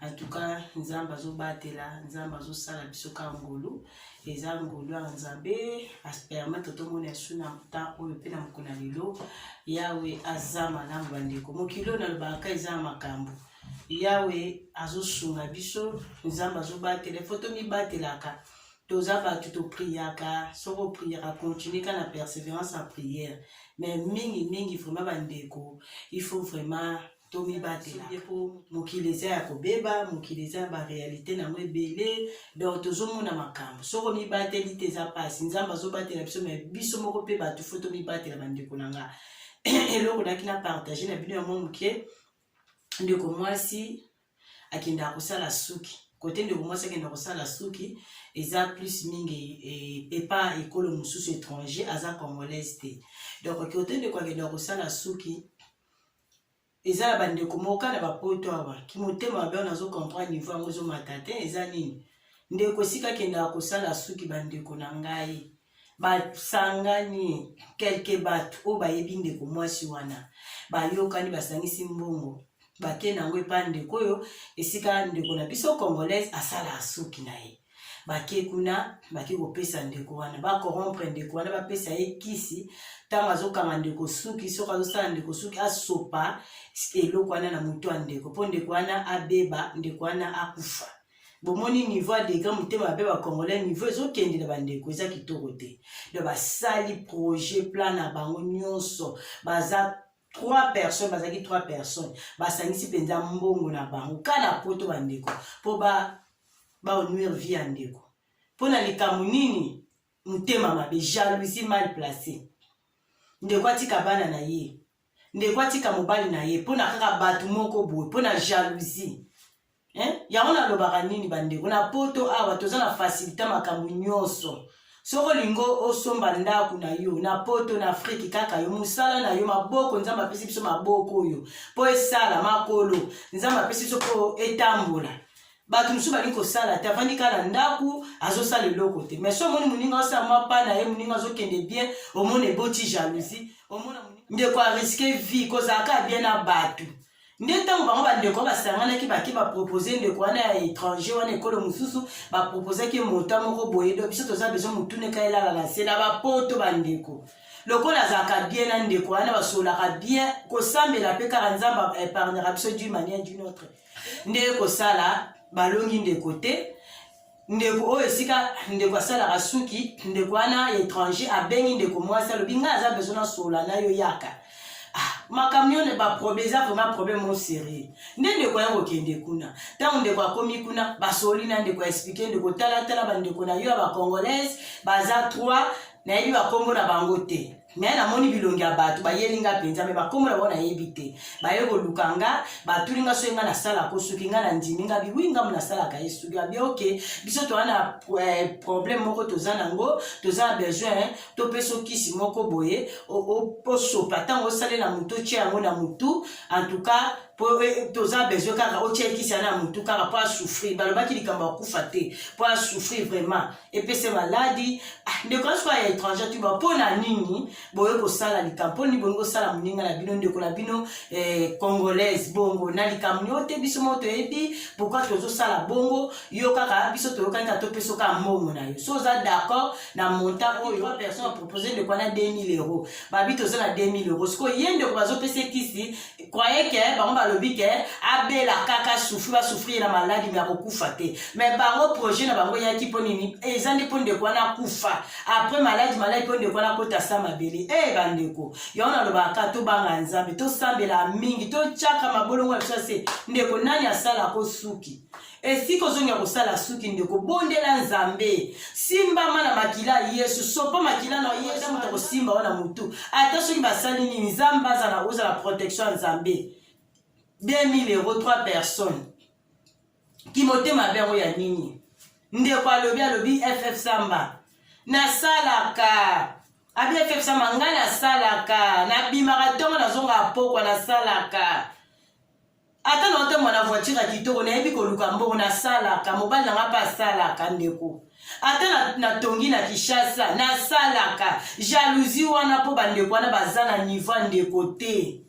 En tout cas, Nzambe azobatela, Nzambe azosala biso ka ngolu. Eza ngolu ya Nzambe, aspermete tomona su na ta oyo mpe na mokona lelo. Yawe aza malamu bandeko. Mokili oyo nalobaka eza ya makambo. Yawe azosunga biso, Nzambe azobatela, fo tomibatelaka. Toza bato topriaka, soki opriaka, continue ka na perseverance ya prière. Mais mingi mingi vraiment bandeko, il faut vraiment tomibatela mokili eza ya kobeba mokili eza ya barealité na yango ebele donc tozomona makambo soko mibateli te eza mpasi nzambe azobatela biso me biso moko mpe bato fo tomibatela bandeko na nga eloko naki na partage na bino yango moke ndeko mwasi akendaka kosala suki kote ndeko mwasi akenda kosala suki eza plus mingi e, epa ekolo mosusu étranger aza congolaise te donc kote ndeko akenda kosala suki eza na bandeko moko kaka na bapoto awa kimotema mabe wana azo comprendre niveau yango ezomata te eza nini ndeko esika akendaka kosala suki bandeko na ngai basangani kelke bato oyo bayebi ndeko mwasi wana bayokani basangisi mbongo bake na yango epai ndeko oyo esika ndeko na biso congolaise asala suki na ye bake kuna bake kopesa ndeko wana bakorompre ndeko wana bapesa ye kisi ntango azokanga ndeko suki soki azosala ndeko suki asopa eloko wana na motu ya ndeko mpo ndeko wana abeba ndeko wana akufa bomoni niveau ya degré motema mabe bacongolais niveau ezokende na bandeko eza kitoko te do basali projet plan na bango nyonso baza trois personnes bazalaki trois personnes basangisi mpenza mbongo na bango ka na poto bandeko mpo baonuire ba vie ya ndeko mpo na likambo nini motema mabe jalousie mal place ndeko atika bana na ye ndeko atika mobali na ye mpo na kaka bato moko boye mpo na jalousie eh? yango nalobaka nini bandeko na poto awa toza na fasilite makambo nyonso soki olingi osomba ndako na yo na poto na afrike kaka yo mosala na yo maboko nzambe apesi biso maboko oyo mpo esala makolo nzambe apesi biso mpo etambola bato mosusu balingi kosala te avandi kaka na ndako azosala eloko te mais so omoni moninga osala mwa pa na ye moninga azokende bien omona eboti jalousie omona ndeko ariske vie kozalaka bien na bato nde ntango bango bandeko wana basanganaki bake bapropose ndeko wana ya étranger wana ekolo mosusu baproposaki mota moko boye do biso toza bezo motuneka elala na nse na bapoto bandeko lokola azalaka bien na ndeko wana basololaka bien kosambela mpe kaka nzambe epargnaka biso d'une manière d'une autre nde kosala balongi ndeko te ndeko oyo esika ndeko asalaka suki ndeko wana étranger abengi ndeko mwasi alobi ngai aza bezo nasola na yo yaka ah, makambo yo baproblème eza vraiment problème o sérieux nde ndeko aya kokende kuna ntango ndeko akomi kuna basoli na ndeko aexplike ndeko talatala bandeko na yo ya bacongolaise baza trois nayebi bakombo na bango te me namoni bilongi ya bato bayeli nga mpenza me bakombo na bango nayebi te baye koluka nga batuli nga soki nga nasalaka soki nga nandimi nga biwi ngambo nasalaka ye soki abi oke biso toza na eh, problème moko toza na yango toza na besoin topesa okisi moko boye osopa ntango osalela motu otye yango na motu en tout cas mpo eh, toza besoin kaka otyekisa na motu kaka mpo asouffrir balobaki likambo akufa te mpo asouffrir vraiment epese maladi ah, ndeko na soka ya étranger tuba mpo na nini boye kosala likambo mpo nini bolingi kosala moninga na bino ndeko na bino eh, congolaise bongo na likambo nio te biso moko toyebi pourkui tozosala bongo yo kaka biso toyokani ka topesa oka mbongo na yo so oza d'accord na montant oyo trois personne apropose ndeko wana 2000 euro babi toza na 2000 euro sikoyo ye ndeko bazopesa ekisi croyez que bango balobi ke abela kaka souffri basouffrir na maladi me akokufa te me bango projet na bango eyaki mpo nini eza nde mpo ndeko wana akufa après maladi maladi mpo ndeko wana akota sa mabele e hey, bandeko yango nalobaka tobanga nzambe tosambela mingi totyaka mabolongo ya biso se ndeko nani asala ko suki esika ozongi ya kosala suki ndeko bondela nzambe simbama na makila ya yesu sopa makila na yesu moto akosimba wana motu ata soki basali nini nzambe azala ozala protection ya nzambe 2000 euro 3 personnes kimotema mabe yango ya nini ndeko alobi alobi ff samba nasalaka abi ff samba ngai nasalaka nabimaka ntongo nazongaka pokwa nasalaka ata na otambola na voiture ya kitoko nayebi koluka mbongo nasalaka mobali na nga mpe asalaka ndeko ata natongi na, na kinshasa nasalaka jalousie wana mpo bandeko wana baza na niveau ya ndeko te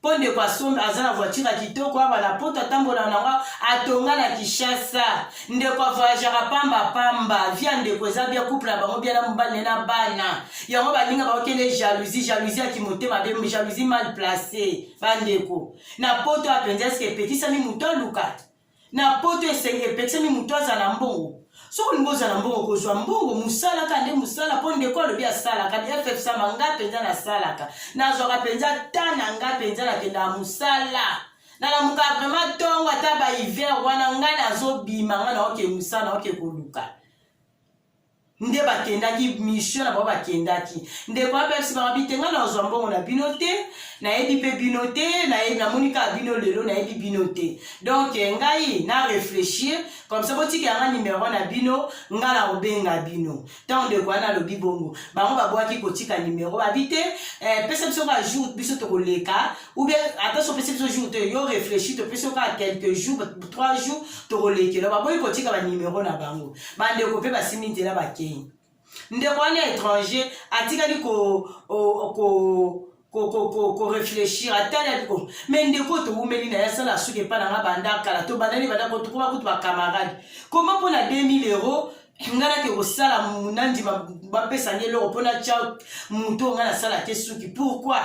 mpo ndeko asombi aza na voiture ya kitoko aba na poto atambola na yango atonga na kinshasa ndeko avoyageaka pamba pamba via ndeko eza bia couple na bango bia na mobali ne na bana yango baninga bakokende jalousie jalousie ya kimotema be jalousie mal place bandeko na poto apenzi eske epekisami moto aluka na poto esengi epekisami moto azala mbongo soki olingi ozala mbongo kozwa mbongo mosala kaka nde mosala mpo ndeko alobi asalaka ffsama ngai mpenza nasalaka nazwaka mpenza ta na ngai mpenza nakendaka mosala nalamuka vraimen ntongo ata bahiver wana ngai nazobima ngai naoke mosala naoke koluka nde bakendaki mission na bango bakendaki ndeko abebisi bango bite ngai nazwa mbongo na bino te nayebi mpe bino te namoni kaka bino lelo nayebi bino te donk eh, ngai na réfléchir comme ça botika yanga nimero na bino ngai na kobenga bino ntango ndeko wana alobi bongo bango babwaki kotika nimero babi te eh, pesa biso kaka jour biso tokoleka oubien ata so pesa biso jour te yo réfléchir topesi yo kaka quelques jours trois jours tokolekela baboyi kotika banimero na bango bandeko mpe basimbi nzela bakei ndeko wana étranger atikali ko, ko, ko koreflechir ata na biko me ndeko towumeli na ye asala suki epai na nga banda kala tobandani banda kotokoba kutu bacamarade koma mpo na 2000 euro nga nake kosala nandima bapesa nde eloko mpo natya moto oyo nga nasala te suki pourkui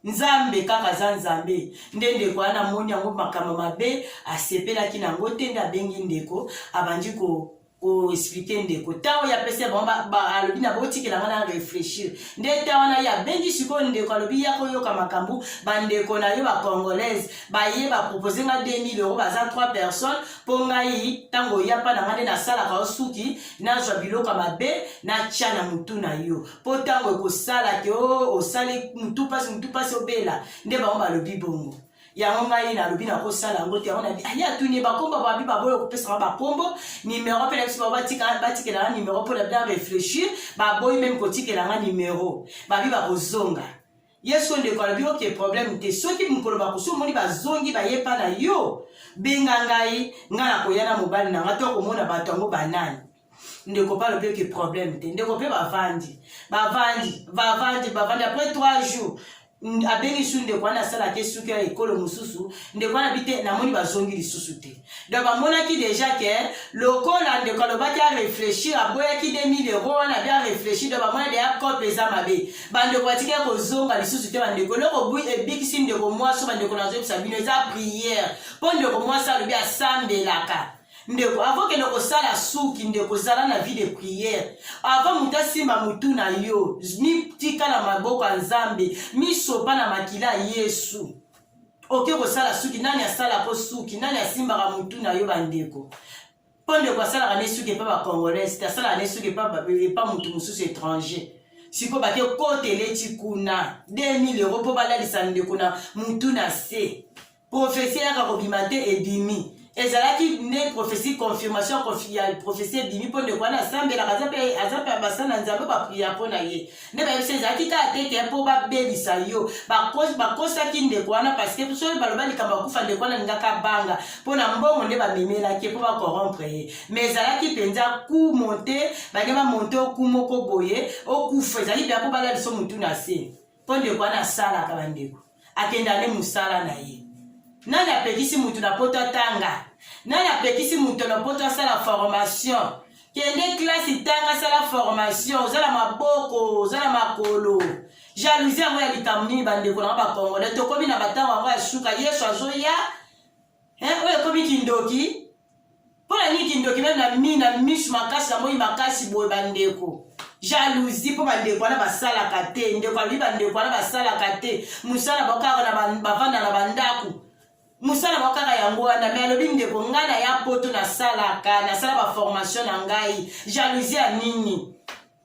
nzambe kaka aza nzambe nde ndeko wana amoni yango makambo mabe asepelaki na yango te nde abengi ndeko abandi ko koexplike ndeko ntango ye apesi bango alobi na botikela ngai na réfléchir nde ntango wana ye abengi sikoyo ndeko alobi ya koyoka makambo bandeko na yo bacongolaise baye bapropose ngai 2000 euro baza 3 personnes mpo ngai ntango oyapa na ngai nde nasalaka osuki nazwa biloko mabe natya na motu na yo mpo ntango ekosala te o oh, osali mutu mpasi mutu mpasi obela nde bango balobi bongo yango ngai nalobi nakosala yango te yango nabi aye atuni bakombo babi baboyi okopesaka bakombo nimero mpe na biso bao batikela nga nimero mpo na bia réfléchir baboyi meme kotikela nga nimero babi bakozonga yesu ndeko alobi oke problème te soki mokolo bakosi omoni bazongi baye mpa na yo benga ngai ngai nakoya na mobali na ngai to akomona bato yango banani ndeko pale mpe ke problème te ndeko mpe bavandi bavandi bavandi bavandi après trois jours abengi su ndeko wana asalaki esuki ya ekolo mosusu ndeko wana bi te namoni bazongi lisusu te donc bamonaki déjà ke lokola ndeko alobaki areflechir aboyaki 2000 euro wana bi areflechir donc bamona deya cope eza mabe bandeko batikaki kozonga lisusu te bandeko eloko ebikisi ndeko mwasi bandeko nazoyebisa bino eza priere mpo ndeko mwasi alobi asambelaka ndeko avant kende kosala suki ndeko zala na vie de prière avant moto asimba motu na yo mitika na maboko ya nzambe misopa na makila ya yesu oke kosala suki nani asala mpo suki nani asimbaka motu na yo bandeko mpo ndeko asalaka ne suki epa bacongolais te asalaka ne suki epa motu mosusu étranger sikoyo bake kota eleti kuna 2000 euro mpo balalisa ndeko na motu na se Prophetie eyaka kobima te ebimi. Ezalaki nde prophetie confirmation ya prophetie ebimi mpo ndeko wana asambelaka aza mpe aza mpe abasa na nzambe bapriya mpo na ye nde bayebisa ezalaki kaka te te mpo babebisa yo bakosaki ndeko wana parceke soki baloba likambo akufa ndeko wana alingaka banga mpo na mbongo nde bamemelaki mpo bakorompre ye ma ezalaki mpenza ku monte balingi bamonte oku moko boye okufa ezalaki mpenza mpo balaliso motu na se Mpo ndeko wana asalaka bandeko, akenda nde mosala na ye. Nani apekisi moto na poto atanga? Nani apekisi moto na poto asala formation? Kende klasi, tanga, sala formation. Oza na maboko, oza na makolo. Jalousie yango ya likambo nini bandeko na nga bakongole? Tokomi na batango yango ya suka. Yesu azoya eh, oyo ekomi kindoki mpo na nini kindoki meme na mi na misu makasi na moi makasi boye bandeko jalousie mpo bandeko wana basalaka te ndeko alobi bandeko wana basalaka te mosala bakaka bavanda na bandako mosala mwa kaka yango wana me alobi ndeko ngai na ya poto nasalaka nasala baformation na ngai jalousie ya nini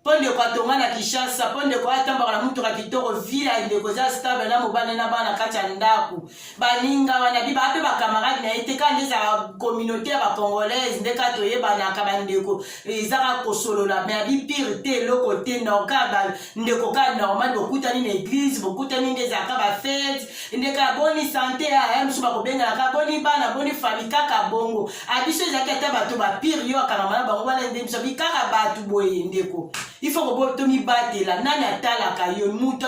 mpo ndeko atonga na kinshasa mpo ndeko atambaka na motuka kitoko vi ya ndeko eza stable na mobali na bana kati ya ndako baninga wana bi bape bakamarade na ye te kaka nde ezala communauté ya bacongolaise nde kaka toyebanaka bandeko ezaka kosolola me abi pire te eloko te norka bandeko ka normal bokutani na eglise bokutani nde ezalaka bafete ndeko ya boni sante aya mosusu bakobenganaka boni bana boni fami kaka bongo abiso ezalaki ata bato bapire yo akangama na bango wana nde biso bi kaka bato boye ndeko ifo kobo tomibatela nani atalaka yo moto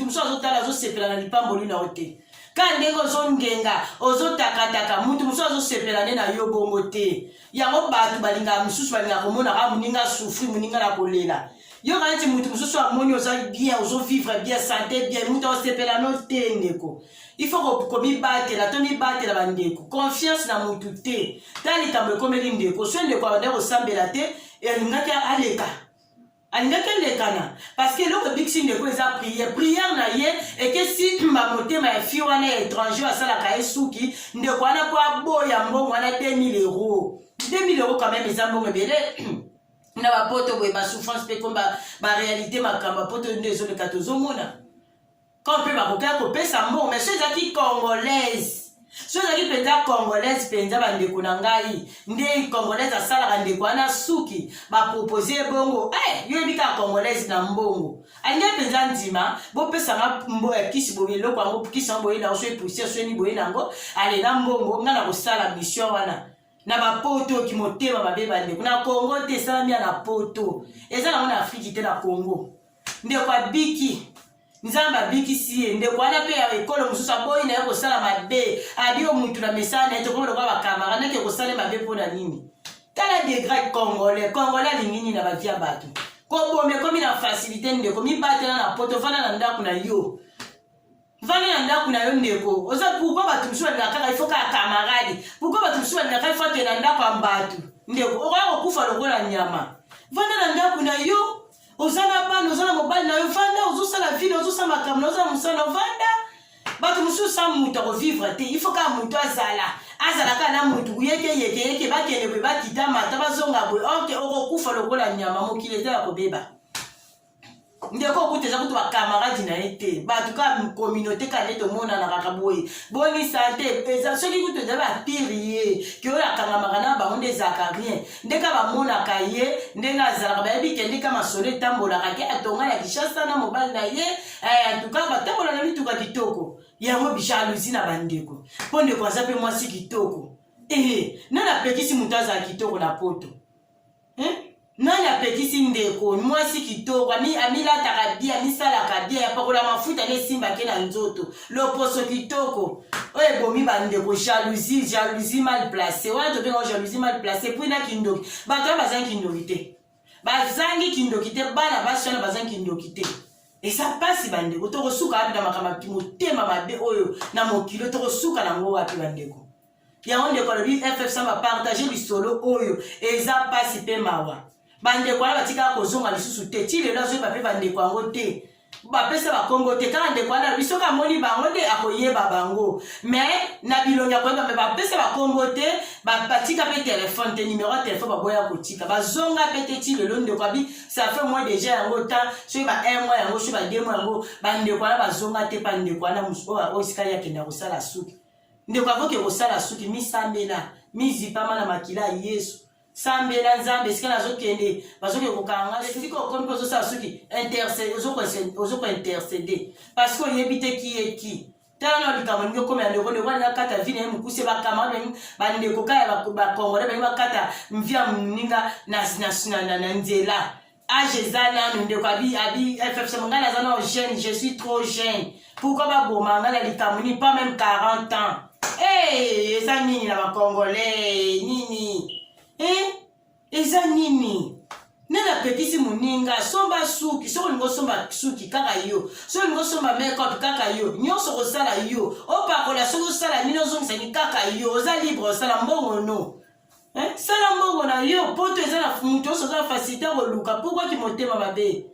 mosusu azotala azosepela na lipamboli na yo te kaka ndenge ozongenga ozotakataka moto mosusu azosepela nde na yo bongo te yango bato balingaka mosusu balingaka komonaka ah, moninga asufri moninga na kolela yoka neti moto mosusu amoni oza bien ozovivre bien sante bien moto aosepela no te ndeko il faut komibatela to mibatela bandeko confiance na motu te ta likambo ekomeli ndeko so ndeko abandaki kosambela te elingaki aleka alingaki elekana parceke eloko ebikisi ndeko eza priere priere na ye ekesi bamotema ya fie wana ya étranger asalaka ye suki ndeko wana po aboya mbongo wana 2000 euro 2000 euro quand même eza mbongo ebele na bapoto boye basouffrance mpe komba barealité makambo ya poto nde ezoleka tozomona Quand pe bakokaki kopesa mbongo mais so ezalaki congolaise so ezalaki mpenza congolaise mpenza bandeko na ngai nde congolaise asalaka ndeko wana suki bapropose ye bongo hey, eh, yo yebi kaka congolaise na mbongo alingai mpenza ndima bopesanga mbo ya eh, kisi boye eloko yango kisi yango boye nango so epusie soni boye nango alela mbongo ngai na kosala mission wana na bapoto kimotema mabe bandeko na congo te esalami ya na poto eza nango na afriki te na congo ndeko abiki nzambe abikisi ye ndeko wana mpe ya ekolo mosusu aboyi na ye kosala mabe adio mutu na misala na ye tokoma lokola bakamara nake kosala mabe mpo na nini tala degrade congolais congolais alingi nini na bavi ya bato koboma ekomi na facilité ndeko mibatela na poto fanda na ndako na yo vanda na ndako na yo ndeko oza pourkoi bato mosusu balingaka kaka ifo kaka kamaradi pourkoi bato mosusu balingaka ifo akende na ndako ya bato ndeko okoya kokufa lokola nyama vanda na ndako na yo oza na bana oza na mobali na yo vanda ozosala vile ozosala makambo na ozala mosala na vanda bato mosusu sa moto akovivre te ifo kaka moto azala azala kaka na moto yekeyekeyeke bakende boye bakita mata bazonga boye orke okokufa lokola nyama mokili eza ya kobeba ndeko okuta eza kutu bakamaradi na ye te bato kaka communauté kaka nde tomonanaka boye boni sante eza soki kutu eza bapire ye keoyo akangamaka na bango nde ezalaka rien nde ka bamonaka ye ndenge azalaka bayebi kende ka masolo etambolaka te atonga na kishasa na mobali na ye eh, antuka batambola na mituka kitoko yango bijalousi na bandeko mpo ndeko aza mpe mwasi kitoko ee eh, nani apekisi moto azala kitoko na poto eh? nani apekisi ndeko mwasi kitoko amilataka bie amisalaka bie apakola mafuta nde esimbaki na nzoto loposo kitoko oyo ebomi bandeko jalousie jalousie mal place wana tobengao jalousie mal place epui na kindoki bato wana bazangi kindoki te bazangi kindoki te bana basi wana bazangi kindoki te eza mpasi bandeko tokosuka wapi na makambo motema mabe oyo na mokili tokosuka nango wapi bandeko yango ndeko alobi ff samba partage lisolo oyo eza mpasi mpe mawa bandeko wana batikaka kozonga lisusu te ti lelo azoyeba mpe bandeko yango te bapesa bakombo te kaka ndeko wana alobi soki amoni bango nde akoyeba bango me na bilongi akoyeba me bapesa bakombo te batika mpe telefone te nimero ya telefone baboya kotika bazonga mpe te ti lelo ndeko abi safe moi deja yango ta soki ba un moi yango soki ba deux moi yango bandeko wana bazonga te pa ndeko wana oyo esika ye akenda kosala suki ndeko akoki kosala suki misambela mizipama na makila ya yesu sambela nzambe esika nazokende bazoki kokanga esika okomi mpe ozosala soki ozokointercede parce que oyebi te kieki tala na likambo ndenge okomi ya ndeko ndeko alingi akata vi na ye mokuse bakamara bandeko kaka bakongole balingi bakata mvi ya moninga na nzela age eza nanu ndeko abi abi ffc ngai naza nao jeune je suis trop jeune pourkoi baboma ngai na likambo nini pas même 40 ans hey, eza nini na bacongolais nini eh? eza nini nde napekisi moninga somba suki soki olingi osomba suki kaka yo soki olingi osomba makeup kaka yo nyonso kosala yo opakola soki osala nini ozongisani kaka yo oza libre osala mbongo no eh, sala mbongo na yo poto eza na moto nyonso aza na fasilite ya koluka pourkua kimotema mabe e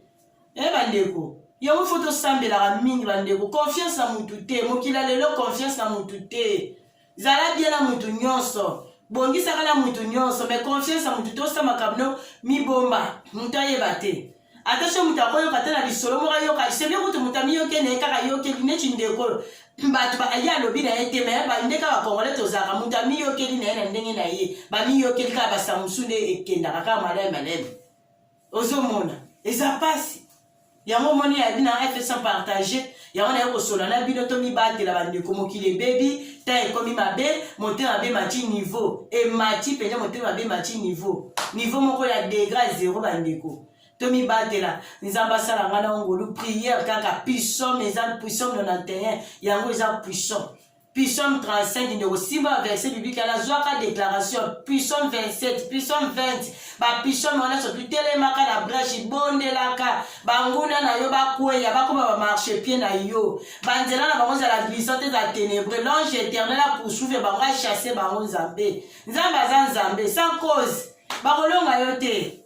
eh, bandeko yango fo tosambelaka mingi bandeko confiance na motu te mokili ya lelo confiance na motu te zala bie na motu nyonso bongisaka na motu nyonso mai confiance na motu tosa makambo no mibomba moto ayeba te ata so moto akoyoka te na lisolo moko ayoka sevie kutu moto amiyoke na ye kaka ayokeli neti ndeko oyo bato ye alobi na ye te me bande kaka congolais tozalaka moto amiyokeli na ye na ndenge na ye bamiyokeli kaka basamusu nde ekendaka kaka malai maleme ozomona eza mpasi yango omoni yabi na fsa partage yango naye kosolola na bino tomibatela bandeko mokili ebebi ta ekomi mabe motema mabe mati niveau emati mpenza motema mabe mati niveau niveau moko ya degra zero bandeko tomibatela nzambe asala ngai na ngolu priere kaka puissant eza puissant 91 yango eza puissant Psaume 35 ndeko simba verset biblique wana zwaka déclaration Psaume 27 Psaume 20 ba Psaume wana soki telemaka na brèche bondelaka banguna na yo bakweya bakoma ba marche pied na yo banzela na bango ezala glissante eza ténébreux l'ange éternel a poursuivre bango a chasse bango nzambe nzambe aza nzambe sans cause bakolonga yo te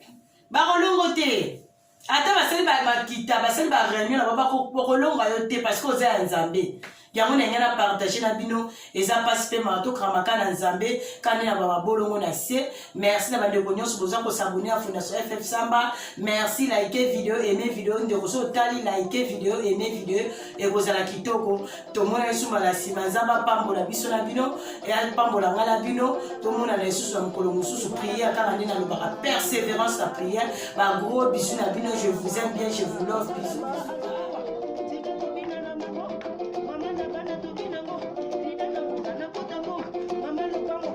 bakolongo te ata basali bakita basali ba réunion na bango bakolonga yo te parce que oza ya nzambe yango na yangai na partage na bino eza mpasi mpe mawa tokramaka na nzambe kani na bababolongo na se merci na bandeko nyonso boza kosabone ya fondation ff samba merci like video eme video ndeko so otali like video eme video ekozala kitoko tomona lisusu mbala nsima nzambe apambola biso na bino e apambola ngai na bino tomonana lisusu na mokolo mosusu priere kaka nde nalobaka persévérance na priere bagros bisu na bino je vous aime bien je vous love bisu